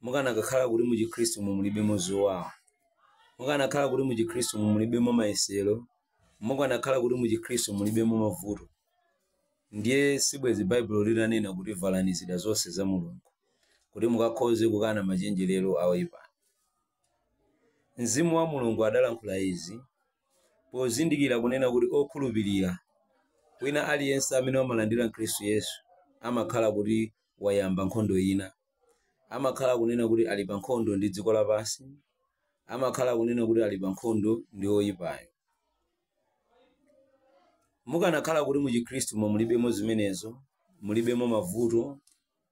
mukanakakhala kuti mu Chikhristumu mulibemo zowawa, mukanakhala kuti mu Chikhristumu mulibemo mayesero, mukanakhala kuti mu Chikhristu mulibemo mavuto, ndiye sibwezi Baibulo litanena kuti valani zida zonse za Mulungu kuti mukakhoze kukana machenjerero a oyipayo. Mzimu wa Mulungu adalankhula izi pozindikira kunena kuti okhulupirira wina aliyense amene wamulandira Khristu Yesu amakhala kuti wayamba nkhondo ina. amakhala kunena kuti ali pa nkhondo ndi dziko lapansi amakhala kunena kuti ali pa nkhondo ndi oyipayo mukanakhala kuti mu chikhristumo mulibemo zimenezo mulibemo mavuto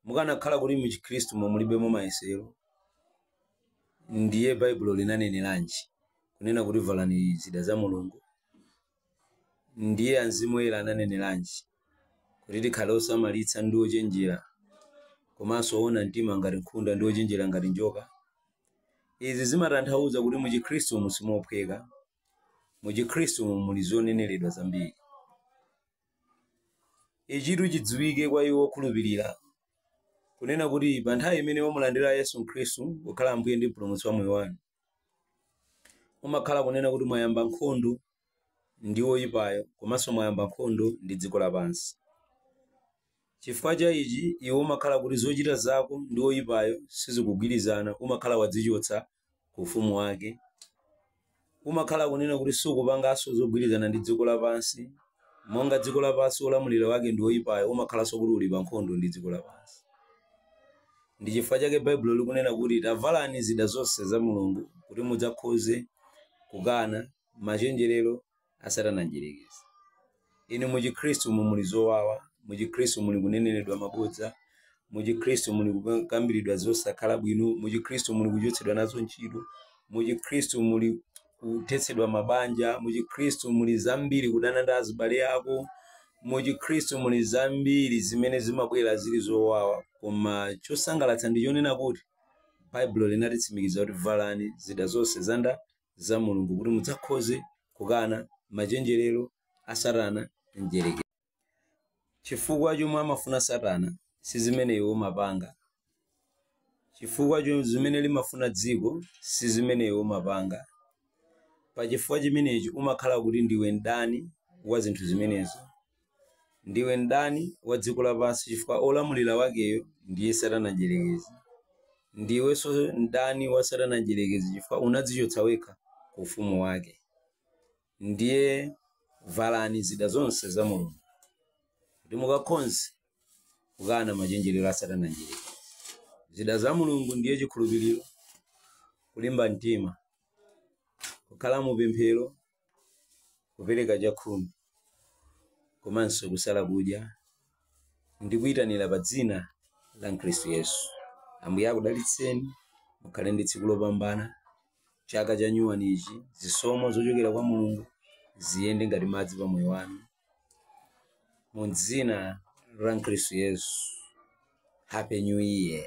mukanakhala kuti mu chikhristumo mulibemo mayesero ndiye baibulo linaneneranji kunena kuti valani zida za mulungu Ndiye Mzimu Woyera ananeneranji? Kuti tikhale osamalitsa ndi ochenjera komanso oona mtima ngati nkhunda ndi ochenjera ngati njoka. Izi zimatanthauza kuti mu Chikhristumu simophweka. Mu Chikhristumu muli zoneneredwa zambiri. Ichitu chidziwike kwa iwo okhulupirira, kunena kuti pa nthawi imene mwamulandira Yesu Khristu kukhala Ambuye ndi Mpulumutsi wa moyo wanu, mumakhala kunena kuti mwayamba nkhondo ndi woyipayo komanso mwayamba nkhondo ndi dziko lapansi chifukwa cha ichi iwe umakhala kuti zochita zako ndi woyipayo sizikugwirizana umakhala wadzichotsa ku ufumu wake umakhala kunena kuti sukupanganso zogwirizana ndi dziko lapansi monga dziko lapansi olamulira wake ndi woyipayo umakhalanso kuti uli pa nkhondo ndi dziko lapansi Ndi chifukwa chake Baibulo likunena kuti, Tavalani zida zonse za Mulungu kuti mudzakhoze kukana machenjerero a Satana Mdyerekezi. Inu mu Chikhristumu muli zowawa, mu Chikhristu muli kuneneredwa mabodza, mu Chikhristu muli kukambiridwa zosakhala bwino, mu Chikhristu muli kuchotsedwa nazo ntchito, mu Chikhristu muli. kuthetsedwa mabanja mu chikhristu muli zambiri kudana ndi azibale ako mu chikhristu muli zambiri zimene zimabwera zili zowawa koma chosangalatsa ndi chonena kuti baibulo linatitsimikiza kuti valani zida zonse zanda za mulungu kuti mudzakhoze kukana machenjerero a satana mdyerekezi chifukwa chomwe amafuna satana si zimene iwe umapanga chifukwa cho- zimene limafuna dziko si zimene iwe umapanga pa chifukwa chimenechi umakhala kuti ndiwe mdani wa zinthu zimenezo ndiwe mdani wa dziko lapansi chifukwa olamulira wakeyo ndiye satana mdyerekezi ndiwenso mdani wa satana mdyerekezi chifukwa unadzichotsa wekha ku ufumu wake Ndiye valani zida zonse za Mulungu, kuti mukakhonze kukana machenjerero a Satana mdyerekezi. Zida za Mulungu ndiye chikhulupiriro, kulimba mtima, kukhala mu pemphero, kupereka chakhumi, komanso kusala kudya ndi kuyitanira pa dzina la Khristu Yesu. Ambuye akudalitseni, mukhale ndi tsiku lopambana. chaka cha nyuwani ichi zisomo zochokera kwa mulungu ziyende ngati madzi pa moyo wanu mu dzina la khristu yesu happy new year